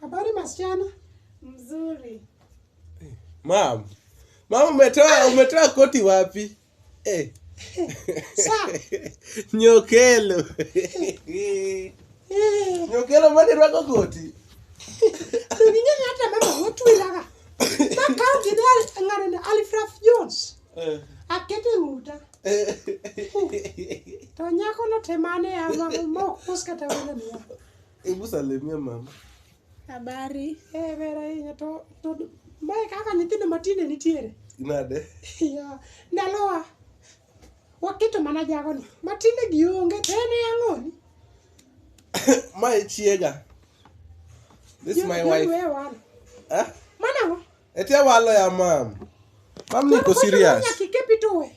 Habari masichana? Mzuri. Mam, mama umetoa umetoa koti wapi? Eh. Sa, Nyokelo. eh, Nyokelo mani rwako koti. to ning'eyo hata mama motwiraga. Makawo gini al- ng'ano ni Alfred Jones. Eh. Akete ng'uta. Eh. To nyakono temane ama mok us kata welo niya. Hebu salimia mama. Habari. Eh, ber ahinya to to mae kaka nyithindo matinde nitiere. Nade? Ya, ndalowa waketo mana jagoni matinde gionge to en e ang'oni. Mae chiega. This is my Yo- yo wife. wewe wana. Eh? Mana ang'o? Etia walo ya mam. Mam niko Koro serious. nyaka ikepi tuwe.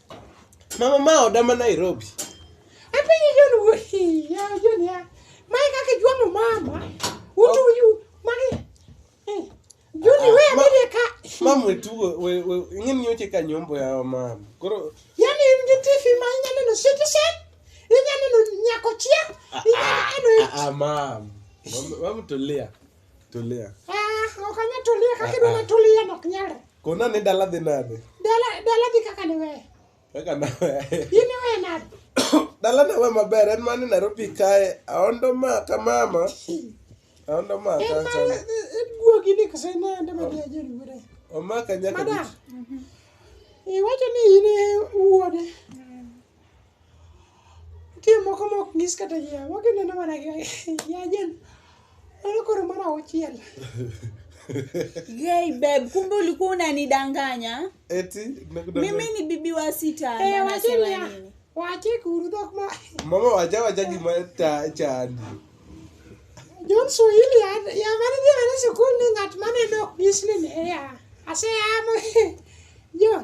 Mama ma oda ma Nairobi. Apenjo John wuoyi, ya John ya. Mae kaka ijuang'o mama. Utu oh. yu, magi. Eh, John ah, we abedie ka. Mama we tugo, we, we, ing'e ni oche ka nyombo ya mama. Koro. Yani in gi TV ma inyalo neno Citizen, inyalo neno Nyakochia, ah, inyalo ah, neno. Ah, mama. Mama tulia. Tulia. Ah, ok anya tulia kaka idwa na tulia nok nyalre. Kona ni dala dhi nade? Dala dala dhi kaka ni we. Kaka na we. Ini we nade? Dala na we maber en mani Nairobi kae aondo ma ka mama. Aondo ma ka cha. En mani en guogi ni kase na ande ma dia jeri wure. Omaka nyaka. Madam. Iwacho ni ine wuode. Nitie moko ma ok nyis kata ji ang'o, gineno mana gi yajen. Mano koro mar auchiel. Yay babe, kumbe ulikuwa unanidanganya. Eti nakudanganya. Mimi ni bibi wa sita. Eh, na wache nasema niya, nini? wache kuru dhok ma Mama wacha wacha gima ta chandi. John Swahili ya ya mane dhi mana sikul ni ng'at maneno ok nyis ni ne ya. Aseyamo John.